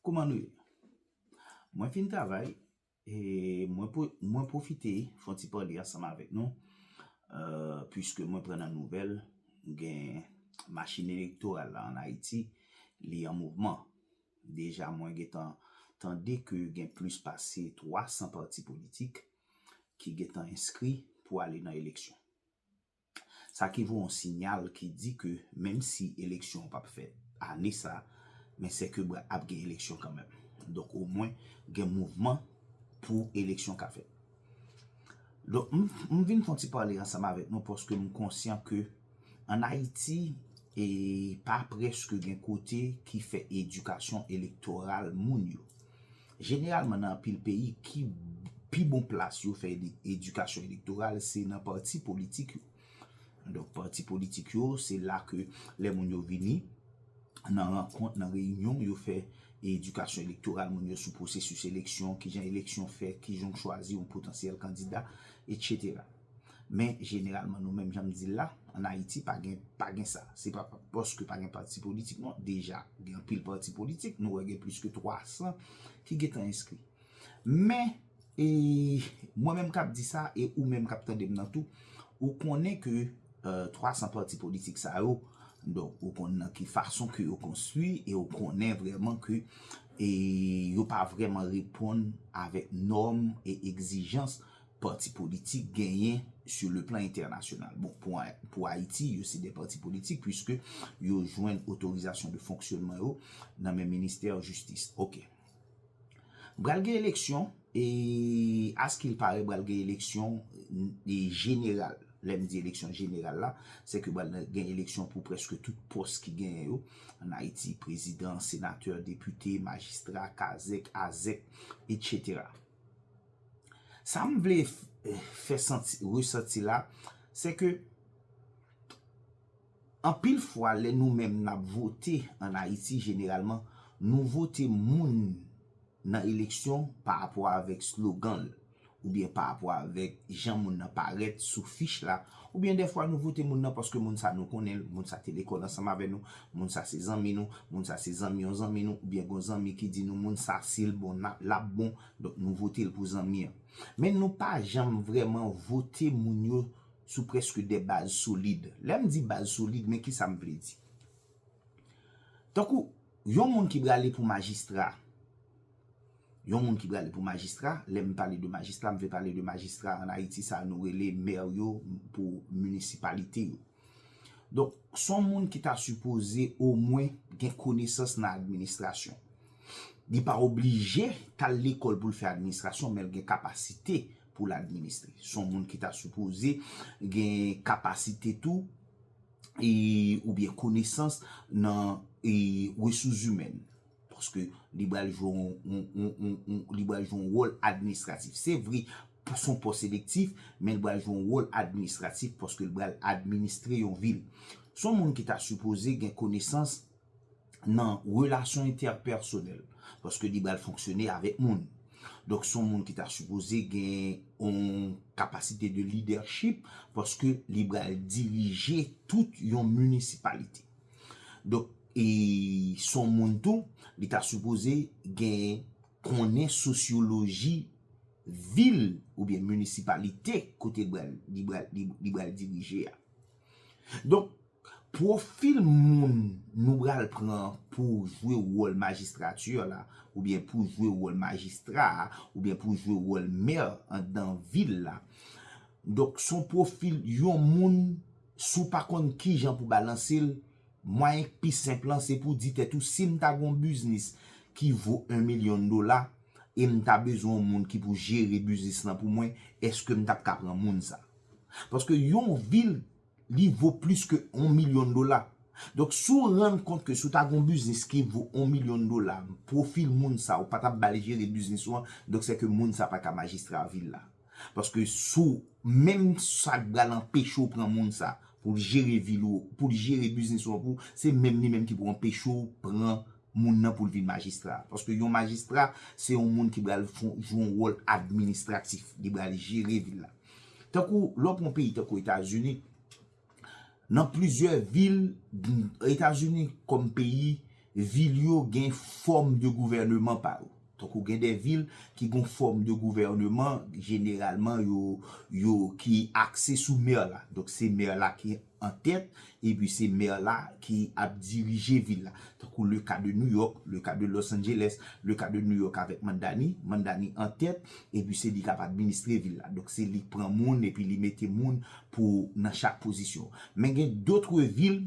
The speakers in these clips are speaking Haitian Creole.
Kouman nou ye? Mwen fin travay e mwen pwofite fon ti pale ansanm avèk nou puiske mwen pran nan nouvèl gen machin elektoral la an Ayiti li an mouvman. Deja mwen gen tan tande ke gen plis pase 300 pati politik ki gen tan enskri pou ale nan eleksyon. Sa ki voye yon sinyal ki di ke menm si eleksyon an pap fèt ane sa, men sèke bra ap gen eleksyon kanmenm. Donk omwen gen mouvman pou eleksyon ka fèt. Donk m vin fon ti pale ansanm avèk nou paske m konsyan ke an Ayiti e pa prèske gen kote ki fè edikasyon elektoral moun yo. Jeneralman nan anpil peyi ki pi bon plas yo fè edikasyon elektoral se nan pati politik yo. Donk pati politik yo se la ke lè moun yo vini nan rankont, nan reyinyon yo fè edikasyon elektoral moun yo sou pwosesis eleksyon, kijan eleksyon fèt, kijan w chwazi yon potansyèl kandida, etsetera. Men jeneralman nou menm jan m di l la, an Ayiti pa gen pa gen sa. Se pa paske pa gen pati politik non, deja gen anpil pati politik, nou wè gen plis ke 300 ki gen tan enskri. Men e mwen menm k ap di sa e ou menm k ap tande m nan tou, ou konnen ke 300 pati politik sa yo, donk ou konnen nan ki fason ke yo konstwi e ou konnen vrèman ke e yo pa vrèman reponn avèk nòm e egzijans Pati politik genyen sou le plan entènasyonal. Bon, pou Ayiti, yo se de pati politik puiske yo jwenn otorizasyon de fonksyonman yo nan men ministè jistis. Ok. Bral gen eleksyon, e askil pare bral gen eleksyon jeneral. Lè m di eleksyon jeneral la, se ke bral gen eleksyon pou preske tout pòs ki genyen yo. An Ayiti, prezidan, senatè, depite, majistra, kazèk, azèk, etc. Sa m vle fè resanti la, se ke anpil fwa lè nou menm n ap vote an Ayiti jeneralman, nou vote moun nan eleksyon pa rapò avèk slogan l, oubyen pa rapò avèk jan moun nan parèt sou fich la, Oubyen dèfwa nou vote moun nan paske moun sa nou konnen l, moun sa te lekòl ansanm avè nou, moun sa se zanmi nou, moun sa se zanmi yon zanmi nou, oubyen gon zanmi ki di nou moun sa si l bon nap l ap bon, donk nou vote l pou zanmi an. Men nou pa janm vrèman vote moun yo sou prèske de baz solid. Lè m di baz solid men kisa m vle di. Tankou yon moun ki prale pou majistra. Yon moun ki prale pou majistra, lè m pale de majistra, m vle pale de majistra an Ayiti sa nou rele mè yo pou minisipalite yo. Donk, s on moun ki ta sipoze omwen gen konesans nan administrasyon. Li pa oblije t al lekòl pou l fè administrasyon men l gen kapasite pou l administre. S on moun ki ta sipoze gen kapasite tou oubyen konesans nan resouszimèn. Paske li bal jwe yon li bal jwe yon wòl administratif. Se vre son pòs elektif, men li bal jwe yon wòl administratif paske li bal administre yon vil. Son moun ki ta sipoze gen konesans nan relasyon entèpèsonèl. Paske li bal fonksyone avèk moun. Donk son moun ki ta sipoze gen yon kapasite de lidèchip paske li bal dirije tout yon minisipalite. Donk. E son moun tou, li ta sipoze gen konnen sosyoloji vil oubyen minisipalite kote li bal dirije a. Donk, pwofil moun nou bal pran pou jwe wòl majistrati la, oubyen pou jwe wòl majistra a, oubyen pou jwe wòl mè andan vil la. Donk, son pwofil yon moun sou pa konn kijan pou balanse l. Mwayen k pi senp lan se pou di tèt ou si m ta gen yon biznis ki vo 1 milyon dola e m ta bezwen yon moun ki pou jere biznis lan pou mwen, eske m t ap ka pran moun sa? Paske yon vil li vo plis ke 1 milyon dola. Donk si w rann kont ke si w ta gen yon biznis ki vo 1 milyon dola, pwofil moun sa ou pa t ap ba l jere biznis ou an, donk sè ke moun sa pa ka majistra vil la. Paske si w menm sa k pral anpeche w pran moun sa pou l jere vil ou, pou l jere biznis ou an pou w, se menm li menm ki pou anpeche w pran moun nan pou l vin majistra. Paske yon majistra se yon moun ki pral jwe yon wòl administratif, li pral jere vil la. Tankou lè w pran yon peyi tankou Etazini. Nan plizyè vil Etazini kòm peyi, vil yo gen fòm de gouvèneman pa yo. Tankou gen de vil ki gon fòm de gouvèneman jeneralman yo ki akse sou mè la. Donk se mè la ki an tèt epi se mè la ki ap dirije vil la. Tankou le ka de New York, le ka de Los Angeles, le ka de New York avèk Mandani, Mandani an tèt epi se li k ap administre vil la. Donk se li k pran moun epi li mete moun. pou nan chak pozisyon. Men gen dotre vil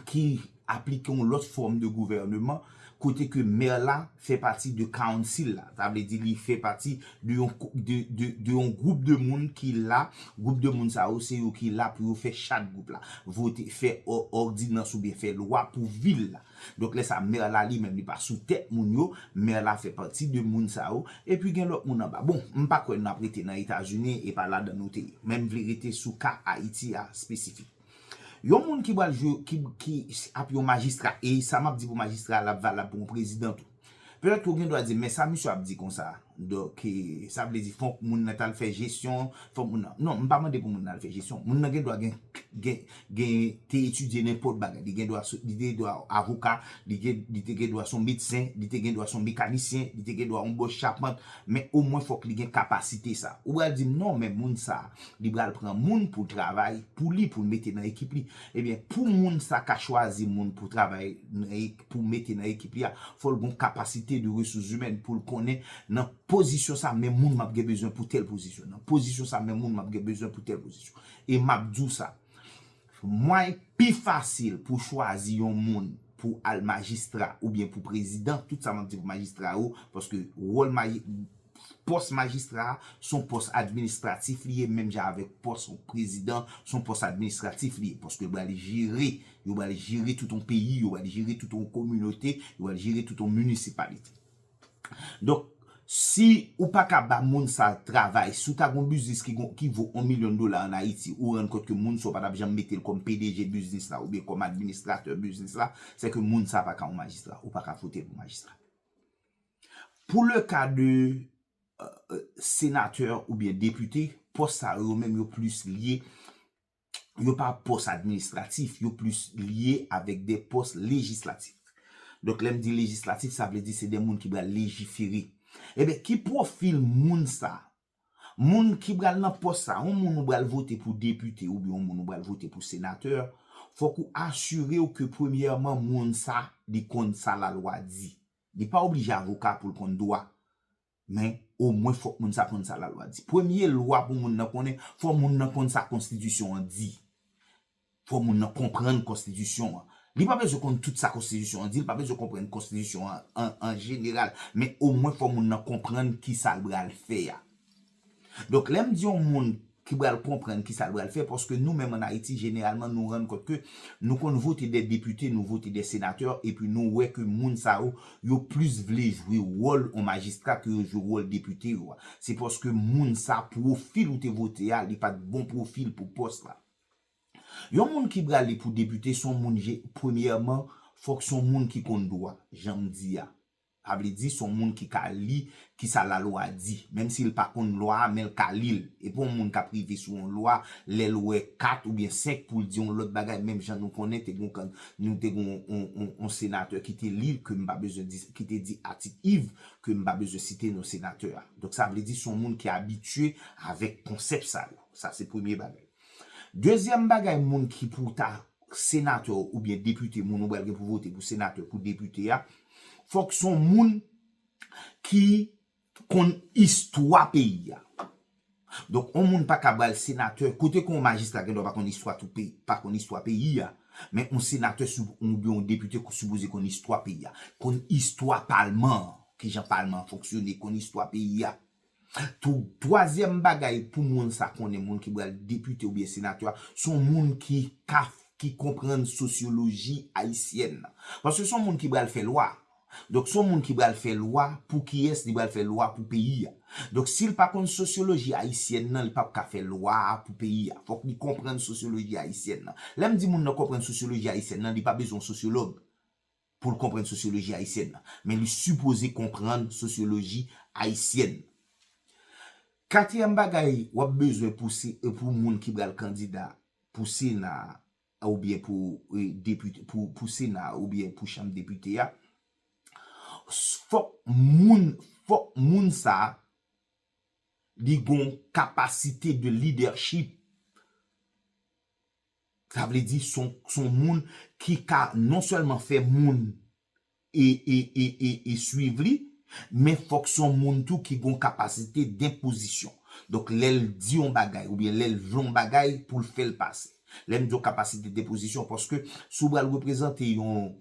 ki aplike yon lòt fòm de gouvèneman kote ke mè la fè pati de kawnsil la. Sa vle di li fè pati de yon de yon gwoup de moun ki la, gwoup de moun sa yo se yo ki la pou yo fè chat gwoup la, vote fè òdinans oubyen fè lwa pou vil la. Donk lè sa mère la li menm li pa sou tèt moun yo, mère la fè pati de moun sa yo, epi gen lòt moun anba. Bon, m pa kwè nap rete nan Etazini, e pa ladan nou te ye. Men m vle rete sou ka Ayiti a espesifik. Yon moun ki pral jwe, ki ap yon majistra, e sa map di pou majistra a lap valab pou yon prezidan tou. Petèt ke w gen dwa di, men sa misye ap di konsa, donk, sa vle di fòk moun nan t al fè jesyon, fòk moun nan, non, m pa mande pou moun nan al fè jesyon, moun nan gen dwa gen, gen, gen, te etidye nenpòt bagay, li gen dwa, li gen dwa avoka, li gen, li te gen dwa s on medsen, li te gen dwa s on mekanisyen, li te gen dwa on bòs chapant, men omwen fòk li gen kapasite sa. Ou pral di m, non, men moun sa, li pral pran moun pou travay pou li, pou l mete nan ekip li. Ebyen, pou moun sa ka chwazi moun pou travay nan, pou mete nan ekip li a fòl gon kapasite de resous zimèn poul konnen nan pozisyon sa men moun map gen bezwen pou tèl pozisyon nan pozisyon sa men moun map gen bezwen pou tèl pozisyon e map diw sa mwany pi fasil pou chwazi yon moun pou al majistra oubyen pou prezidan tout sa map di pou majistra yo paske wòl maji pòs majistra a son pòs administratif li ye menm jan avèk pòs prezidan son pòs administratif li ye paske l bal jere Yo bal jere tout yon peyi, yo bal jere tout yon kominote, yo bal jere tout yon municipalite. Donk, si ou pa ka ba moun sa travay, si ou ta gon biznis ki gon, ki vo yon milyon dola an Ayiti, ou rann kont ke moun sa ou pa tap janm mete l kòm pdg biznis la oubyen kòm administratè biznis la, se ke moun sa pa ka yon majistra. Ou pa ka vote l pou majistra. Pou le ka de senatè oubyen depite, pòs sa yo, yo menm yo plis lye yo pa pòs administratif, yo plis lye avèk de pòs lejislatif. Donk lè m di lejislatif, sa vle di se de moun ki pral lejifere. Enben, ki pwofil moun sa? Moun ki pral nan pòs sa, yon moun ou pral vote pou depite oubyen yon moun ou pral vote pou senatè, fòk ou asire w ke premyèman moun sa, li konn sa lalwa di. Li pa oblije avoka pou l konn dwa. Men, omwen fòk moun sa konn sa lalwa di. Premye lwa pou moun nan konnen, fò moun nan konn sa konstitisyon an di. Fò moun nan konprann konstitisyon an. Li pa bezwen konn tout sa konstitisyon an di, li pa bezwen konprann konstitisyon an an jeneral, men omwen fò moun nan konprann kisa l bral fè a. Donk lè m di yon moun ki pral konprann ki sa l pral fè, paske nou menm ann Ayiti jeneralman nou rann kont ke nou konn vote dè depite, nou vote dè senatè epi nou wè ke moun sa yo, yo plis vle jwe wòl yon majistra ke yo jwe wòl depite yo a. Se paske moun sa pwofil ou te vote a li pa t bon pwofil pou pòs la. Yon moun ki prale pou depite s on moun je premyèman fòk s on moun ki konn dwa, jan m di a. Sa vle di, son moun ki ka li ki sa lalwa di. Menm si l pa konn lwa a, men l ka li l. Epi yon moun kap rive sou yon lwa, lè l wè 4 oubyen 5 pou l di yon lòt bagay menm jan nou konnen te gon kan nou te gon yon senatè ki te li l ke m pa bezwen di ki te di atik iv ke m pa bezwen site non senatè a. Donk sa vle di son moun ki abitye avèk konsèp sa yo. Sa se premye bagay. Dezyèm bagay moun ki pou ta senatè oubyen depite moun ou pral gen pou vote pou senatè pou depite a, Fok son moun ki konn istwa peyi a. Donk on moun pa ka bal senatè, kote ke on majistra gen dwa pa konn istwa tout peyi, pa konn istwa peyi a, men on senatè sou ou byen on depite ki sipoze konn istwa peyi a, konn istwa palman an, kijan palman an fonksyone, konn istwa peyi a. Tou, twazyèm bagay pou moun sa konnen, moun ki pral depite oubyen senatè a, se yon moun ki ka, ki konprann sosyoloji ayisyèn nan. Paske se yon moun ki pral fè lwa. Donk se yon moun ki pral fè lwa pou kiyès? Li pral fè lwa pou peyi a. Donk si l pa konn sosyoloji ayisyèn nan, li pap ka fè lwa a pou peyi a. Fòk li konprann sosyoloji ayisyèn nan. Lè m di moun nan konprann sosyoloji ayisyèn nan, li pa bezwen yon sosyològ. pou l konprann sosyoloji ayisyèn nan, men li sipoze konprann sosyoloji ayisyèn. Katriyèm bagay w ap bezwen pou se pou moun ki pral kandida pou sena a oubyen pou depite pou sena a oubyen pou chanm depite a, fòk moun fòk moun sa a li gon kapasite de lidèchip. Sa vle di son son moun ki ka non sèlman fè moun e e e e e swiv li, men fòk son moun tou ki gon kapasite denpozisyon. Donk lè l di yon bagay oubyen lè l vle yon bagay pou l fè l pase. Lè m di yon kapasite denpozisyon paske si w pral reprezante yon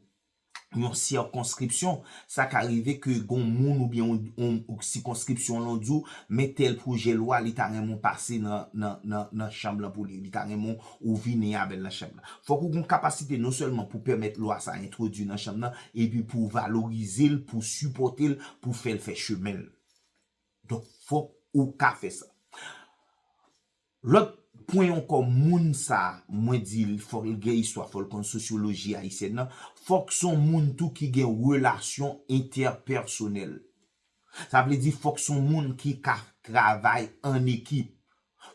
yon sikonskripsyon, sa ka rive ke gon moun oubyen yon sikonskripsyon lan di w, men tèl pwojè lwa li ta renmen w pase nan chanm lan pou li, li ta renmen w vini avè l nan chanm lan. Fòk ou gon kapasite non sèlman pou pèmèt lwa sa entwodui nan chanm lan, epi pou w valorize l, pou w sipòte l, pou w fè l fè chemen l. Donk fòk ou ka fè sa. Lòt pwen ankò moun sa mwen di l fòk l gen istwa fòk l konn sosyoloji ayisyèn nan fòk s on moun tou ki gen relasyon entèpèsonèl sa vle di fòk s on moun ki ka travay an ekip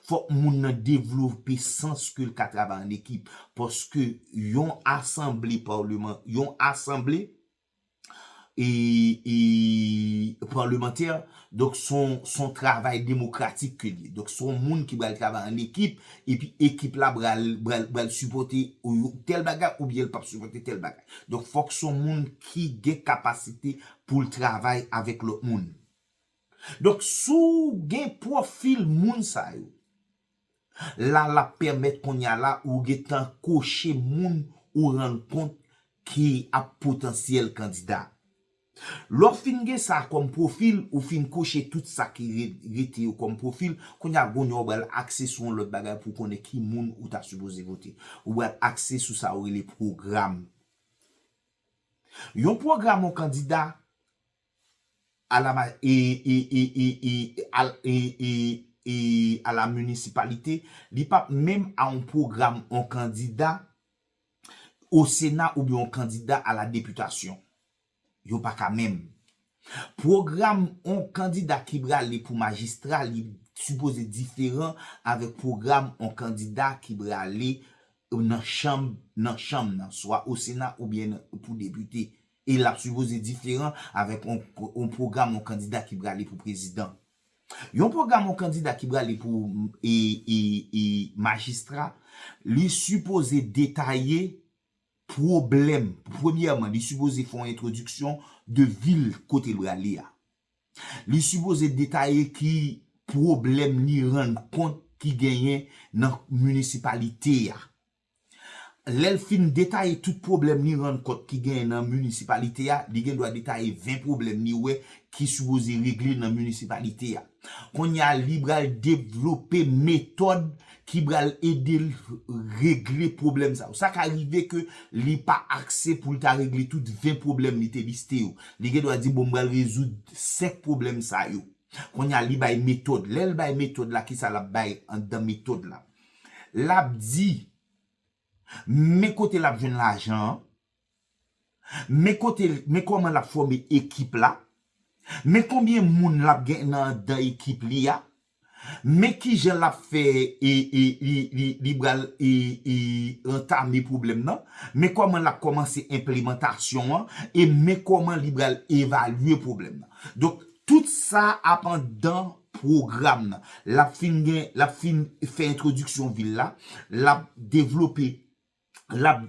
fòk moun nan devlope sans ke l ka travay an ekip paske yon asanble paleman yon asanble e palemantè donk son travay demokratik ke liye donk son moun ki bal travay an ekip epi ekip la bal sipote tèl bagay oubyen li pap sipote tèl bagay donk fòk son moun ki gen kapasite poul travay avèk lòt moun donk sou gen profil moun sa yo La lap pèmèt kounya la ou gentan koche moun ou rann kont ki ap potansyèl kandida. Lè w fin gen sa kòm pwofil, ou fin koche tout sa ki rete yo kòm pwofil, kounya kounya ou pral akse sou yon lòt bagay pou w konnen ki moun ou ta sipoze vote. Ou pral akse sou sa yo rele pwogram. Yon pwogram yon kandida. Ala ma e e e e e al e e e ala municipalite li pap menm a on program on kandida o sena oubyen on kandida ala deputasyon yo paka menm program on kandida ki brale pou majistra li sipoze diferan avek program on kandida ki brale nan chanm nan chanm nan swa o sena oubyen pou depute E l ap sipoze diferan avèk yon pwogram yon kandida ki prale pou prezidan. Yon pwogram yon kandida ki prale pou majistra, li sipoze detaye pwoblèm, premyèman, li sipoze fè yon entwodiksyon de vil kote l prale a. Li sipoze detaye ki pwoblèm li rann kont ki genyen nan minisipalite a. Lè l fin detaye tout pwoblèm li rann kont ki genyen nan minisipalite a, li gen dwa detaye 20 pwoblèm li wè ki sipoze regle nan minisipalite a. Kounye a li pral devlope metòd ki pral ede l regle pwoblèm sa yo. Sa ka rive ke li pa akse pou l ta regle tout 20 pwoblèm li te liste yo. Li gen dwa di bon m pral rezoud 5 pwoblèm sa yo. Kounye a li bay metòd. Lè l bay metòd la kisa l ap bay anndan metòd la? lap di men kote lap jwenn lajan an, men kote men kòman lap fòme ekip la, men konbyen moun lap gen nan anndan ekip li a, men kijan lap fè e e li li li bral e e antame pwoblèm nan, men kòman lap kòmanse enplemantasyon an e men kòman li bral evalye pwoblèm nan. Donk tout sa ap anndan pwogram nan. L ap fin gen, l ap fin fè entwodiksyon vil la, l ap devlope, l ap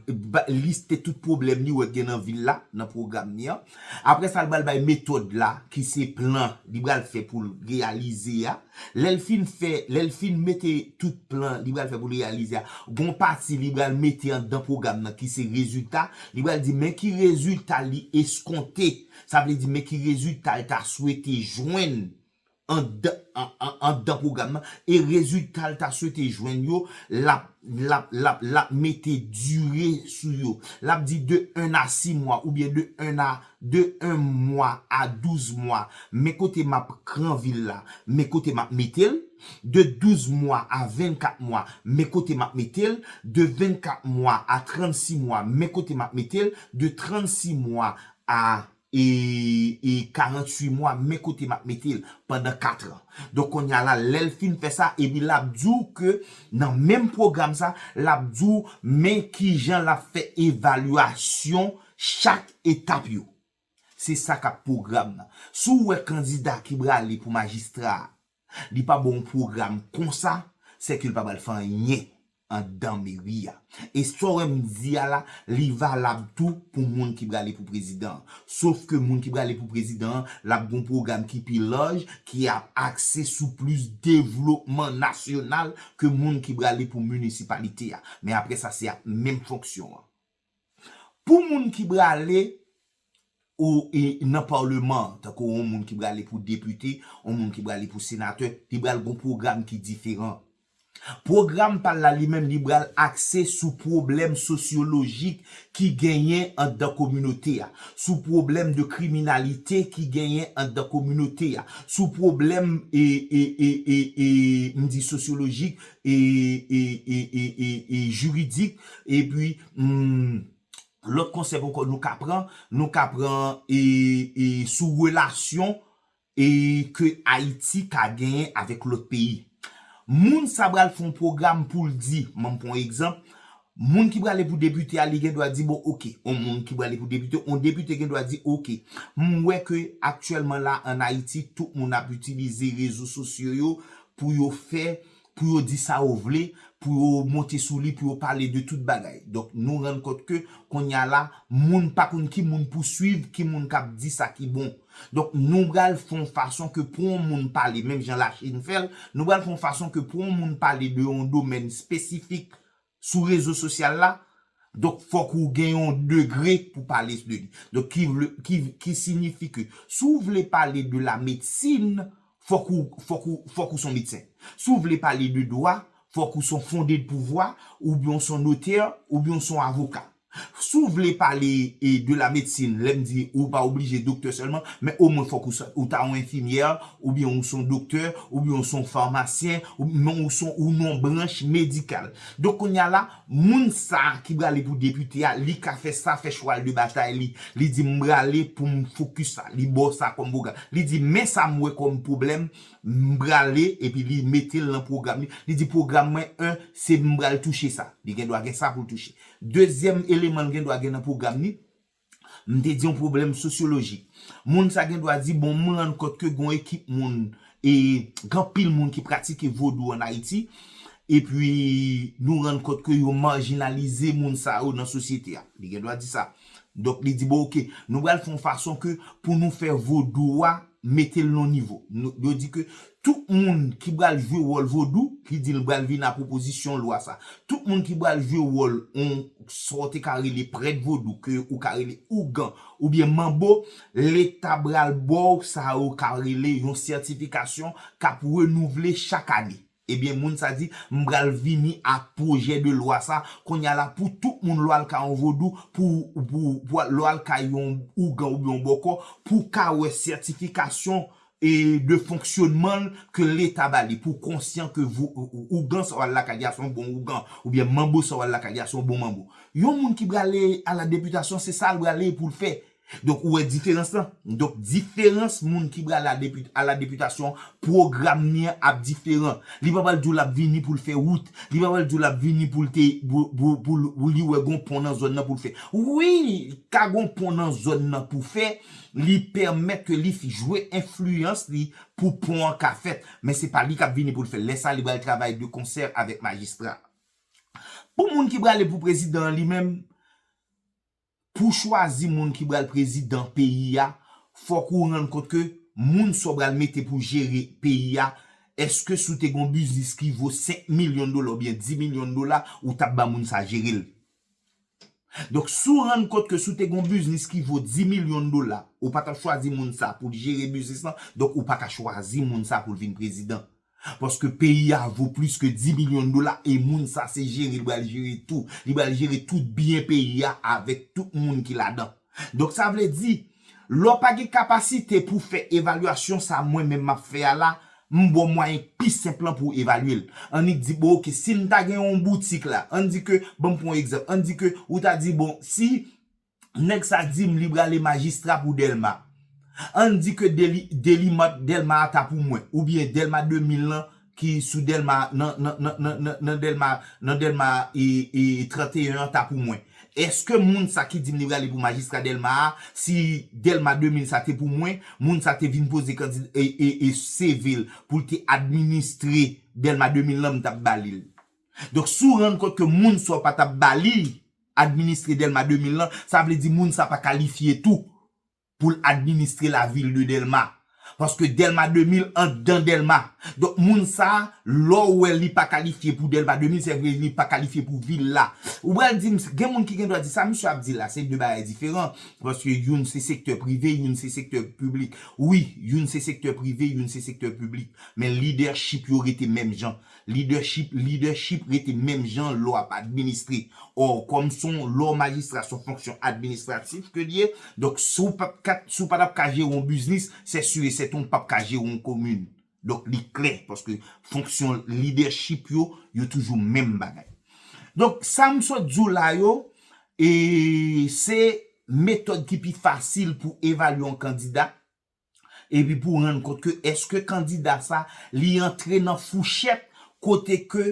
liste tout pwoblèm li wè k gen nan vil la nan pwogram li an. Apre sa l pral bay metòd la ki se plan li pral fè pou l reyalize a. Lè l fin fè, lè l fin mete tout plan li pral fè pou l reyalize a, gen yon pati li pral mete anndan pwogram nan ki se rezilta. Li pral di men ki rezilta li eskonte, sa vle di men ki rezilta l ta swete jwenn. andan pwogram nan e rezilta l ta swete jwenn yo l ap mete dire sou yo. L ap di de 1 a 6 mwa oubyen de 1 a de 1 mwa a 12 mwa men kote m ap kranvi l la men kote m ap mete l de 12 mwa a 24 mwa men kote m ap mete l de 24 mwa a 36 mwa men kote m ap mete l de 36 mwa a e 48 mwa men kote map metel pandan 4 ans donk konnya la lèl fin fè sa epi lap diw ke nan menm pwogram sa lap diw men kijan lap fè evalyasyon chak etap yo se sa kap pwogram nan si w wè kandida ki brale pou majistra a. Li pa ba w yon pwogram konsa, se ke li pa pral fè anyen anndan meri a. E sa w wè m di a la, li valab tou pou moun ki prale pou prezidan an. Sof ke moun ki prale pou prezidan an, l ap gen yon pwogram ki pi laj, ki ap akse sou plis devlopman nasyonal ke moun ki prale pou minisipalite a. Men apre sa, se ap menm fonksyon an. Pou moun ki brale ou nan parleman tankou yon moun ki brale pou depite yon moun ki brale pou senatè li bral gon program ki diferan program pal la li menm li bral akse sou problèm sosyolojik ki genyen andan kominote a sou problèm de kriminalite ki genyen andan kominote a sou problèm e e e e e mdi sosyolojik e juridik e pi lòt konsèp ankò nou ka pran nou ka pran e sou relasyon e ke Ayiti ka genyen avèk lòt peyi moun sa pral fè yon pwogram poul di m'en pran yon egzanp Moun ki prale pou depite a li gen dwa di bon ok. On moun ki prale pou depite, on depite gen dwa di ok. M wè ke aktyèlman la an Ayiti tout moun ap itilize rezo sosyo yo pou yo fè, pou yo di sa yo vle, pou yo monte sou li, pou yo pale de tout bagay. Donk nou rann kont ke kounye a la moun pa konn ki moun pou swiv, ki moun k ap di sa ki bon. Donk nou pral fè on fason ke pou on moun pale, menm jan Lachin fè l, nou pral fè on fason ke pou on moun pale de on domèn espesifik sou rezo sosyal la, donk fòk ou gen yon degre pou pale de li. Donk ki vle, ki, ki signifi ke si w vle pale de la medsin, fòk ou, fòk ou, fòk ou s on medsen. Si w vle pale de dwa, fòk ou s on fonde de pouvwa, oubyen w s on notè, oubyen w s on avoka. Si w vle pale de la medecine, lè m di ou pa oblije doktè sèlman, men omwen fòk ou ta yon enfimyè, oubyen ou se yon doktè, oubyen ou se yon famasyen, men ou se yon yon branch medikal. Donk kounye a la, moun sa a ki prale pou depite a, li ka fè sa, fè chwal de batay li. Li di m prale pou m fokis sa, li ba w sa kòm pwogram. Li di men sa m wè kòm pwoblèm, m prale epi li mete l nan pwogram li. Li di pwogram mwen 1, se m pral touche sa. Li gen dwa gen sa pou l touche. Dezyèm eleman l gen dwa gen nan pwogram li, m te di yon pwoblèm sosyolojik. Moun sa gen dwa di bon m rann kont ke gen yon ekip moun e gen anpil moun ki pratike vodou an Ayiti epi nou rann kont ke yo marginalize moun sa yo nan sosyete a. Li gen dwa di sa. Donk li di bon ok nou pral fè yon fason ke pou nou fè vodou a mete l nan yon nivo. Yo di ke Tout moun ki bal jwe wòl vodou ki di l bal vin a pwopozisyon lwa sa. Tout moun ki bal jwe wòl on sa w te ka rele prèt vodou ke ou ka rele ougan oubyen manbo leta bal ba w sa yo ka rele yon sètifikasyon k ap renouvle chak ane. Ebyen moun sa di m bal vini a pwojè de lwa sa konnya la pou tout moun lè w al kay on vodou pou pou pou lè w al kay yon ougan oubyen on bòkò pou w ka wè sètifikasyon e de fonksyonman l ke leta ba li pou konsyan ke vou ougan sa w al lakay li a se yon bon ougan oubyen manbo sa w al lakay li a se yon bon manbo yon moun ki prale a la deputasyon se sa l prale pou l fè donk ou wè diferans lan donk diferans moun ki prale a depi a la deputasyon pwogram ni an ap diferan li pa pral di w l ap vini pou l fè wout li pa pral di w l ap vini pou l te pou pou l li wè gon pon nan zòn nan pou l fè wi ka gon pon nan zòn nan pou fè Li pèmèt ke li jwe enfliyans li pou pon an ka fèt, men se pa li kap vini pou l fè l. Lè sa a, li pral travay de konsè avèk majistra a. Pou moun ki prale pou prezidan an li menm, pou chwazi moun ki pral prezidan peyi a, fòk ou rann kont ke moun sa w pral mete pou jere peyi a, èske si w te gen yon biznis ki vo 5 milyon dola oubyen 10 milyon dola, ou tap ban moun sa jere l? Donk si w rann kont ke si w te gen yon biznis ki vo 10 milyon dola, ou pa t ap chwazi moun sa pou l jere biznis lan, donk ou pa ka chwazi moun sa pou l vin prezidan. Paske peyi a vo plis ke 10 milyon dola e moun sa se jere li pral jere tou. Li pral jere tout byen peyi a avèk tout moun ki ladan. Donk sa vle di, lè w pa gen kapasite pou w fè evalyasyon sa mwen menm m ap fè a la, m ba w mwayen k pi senp lan pou w evalye l. Annik di bon ok, si m ta gen yon boutik la, ann di ke, ban m pran yon egzanp, ann di ke ou ta di bon, si nèg sa di m li brale majistra pou Dèlma, ann di ke Deli, Delimart Dèlma a ta pou mwen, oubyen Dèlma 2000 lan, ki sou delma nan nan nan nan nan nan delma nan delma e e 31 an ta pou mwen eske moun sa ki dim li prale pou majistra delma a si delma 2000 sa te pou mwen moun sa te vin poze kandid e e e CV l pou l te administre delma 2000 lan m tap ba li l donk si w rann kont ke moun sa w pa tap ba li administre delma 2000 lan sa vle di moun sa pa kalifye tou pou l administre la ville de Delma paske Delma 2000 andan Delma donk moun sa lè w wè li pa kalifye pou Delma 2000 sè vre li pa kalifye pou ville la ou pral di m gen moun ki gen dwa di sa misye ap di la se 2 bagay diferan paske youn se sektè prive youn se sektè piblik wi youn se sektè prive youn se sektè piblik men lidèchip yo rete menm jan Leadership leadership rete menm jan lò ap administre or kòm son lò majistra son fonksyon administratif ke l ye donk si w pap ka si w pa tap ka jere yon biznis sè sur et sèten w pap ka jere yon komin donk li klè paske fonksyon leadership yo yo toujou menm bagay donk sa m sot di w la yo e se metòd ki pi fasil pou evalye yon kandida. epi pou rann kont ke eske kandida sa li antre nan fouchèt kote ke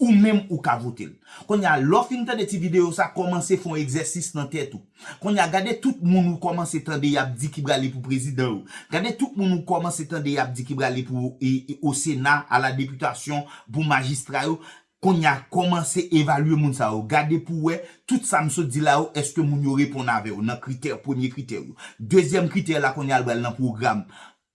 ou menm ou ka votel. Konnya lè w fin tande ti videyo sa kòmanse fon egzèsis nan tèt ou. Konnya gade tout moun ou kòmanse tande yap di ki prale pou prezidan yo. Gade tout moun ou kòmanse tande yap di ki prale pou o sena, a la deputasyon, pou majistra yo. Konnya kòmanse evalye moun sa yo. Gade pou wè tout sa m sot di la yo èske moun yo reponn avè w nan kritè, premye kritè yo. Dezyèm kritè la konnya l bal nan pwogram.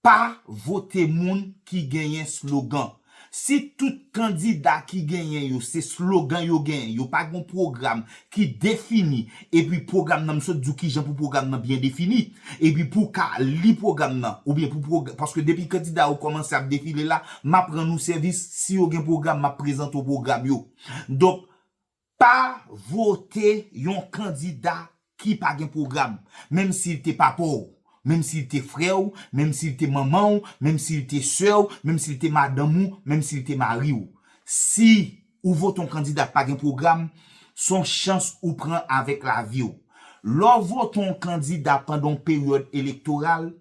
Pa vote moun ki genyen slogan. Si tout kandida ki genyen yo se slogan yo genyen, yo pa gon pwogram ki defini epi pwogram nan m sot di w kijan pou pwogram nan byen defini epi pou w ka li pwogram nan oubyen pou pwogram paske depi kandida yo kòmanse ap defile la m ap rann ou sèvis si yo gen pwogram m ap prezante w pwogram yo donk pa vote yon kandida ki pa gen pwogram menm si l te papa w menm si l te frè w menm si l te manman w menm si l te sè w menm si l te madanm ou menm si l te mari w si Ou vote yon kandida k pa gen pwogram, s on chans ou pran avèk lavi w. Lè w vote yon kandida pandan yon peryòd elektoral,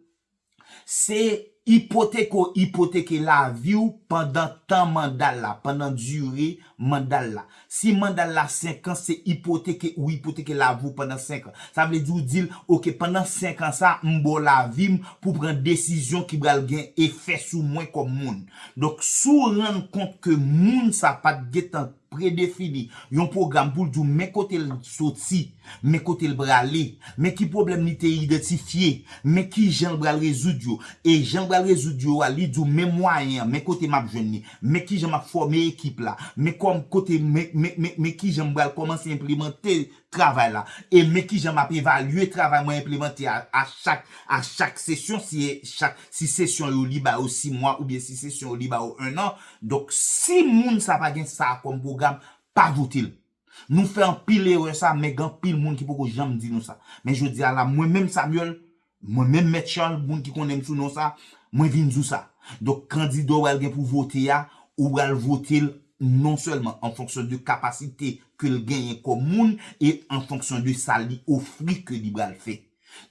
se ipoteke w ipoteke lavi w pandan tan manda l la, pandan dire manda l la. Si manda l la senkan, se ipoteke ou ipoteke lavi w pandan senkan. Sa vle di ou di l, ok, pandan senkan sa a, m ba w lavi m pou w pran desizyon ki pral gen efè sou mwen kòm moun. Donk, si w rann kont ke moun sa pa t gentan predefini yon pwogram pou l di w men kote l soti, men kote l prale, men ki pwoblèm li te idantifye, men kijan l pral rezoud yo, e jan l pral rezoud yo a, li di w men mwayen an, men kote m ap jwenn li, men kijan m ap fòme ekip la, men kòm kote, men, men, men, men kijan m pral kòmanse enplemante travay la e men kijan map evalye travay mwen enplemante a a chak a chak sesyon si e chak si sesyon yo li ba yo 6 mwa oubyen si sesyon yo li ba yo 1 an donk si moun sa pa gen sa kòm pwogram pa votel nou fè anpil erè sa men gen anpil moun ki poko janm di nou sa men jodi a la mwen menm Samuel Mwen menm Mèt Charles, moun ki konnen m sou non sa, mwen vin di w sa. Donk kandida w pral gen pou vote a, ou pral vote l non sèlman an fonksyon de kapasite ke l genyen kòm moun e an fonksyon de sa li ofri ke li pral fè.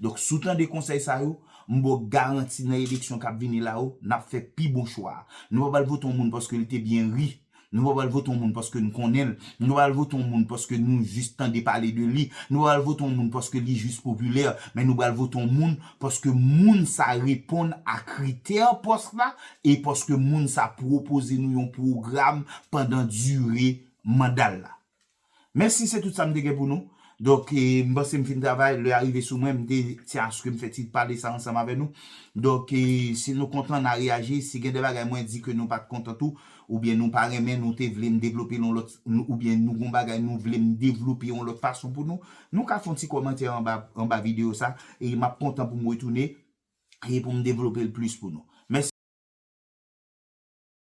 Donk si w tande konsèy sa yo, m ba w garanti nan eleksyon k ap vini la yo, n ap fè pi bon chwa a. Nou pa pral vote yon moun paske li te byen ri Nou pa pral vote yon moun paske nou konnen l, nou pa pral vote yon moun paske nou jis tande pale de li, nou pa pral vote yon moun paske li jis popilè, men nou pral vote yon moun paske moun sa reponn a kritè pòs la e paske moun sa pwopoze nou yon pwogram pandan dire manda l la. Mèsi se tout sa m te gen pou nou. Donk m panse m fin travay, lè a rive sou mwen, m te ti aske m fè ti pale sa ansanm avè nou. Donk si nou kontan na reyaji, si gen de bagay mwen di ke nou pat kontan tou, oubyen nou pa renmen, nou te vle m devlope l yon lòt, oubyen nou gon bagay nou vle m devlope yon lòt fason pou nou, nou ka fè yon ti kòmantè anba anba videyo sa, e map kontan pou m retounen e pou m devlope l plis pou nou. Mèsi.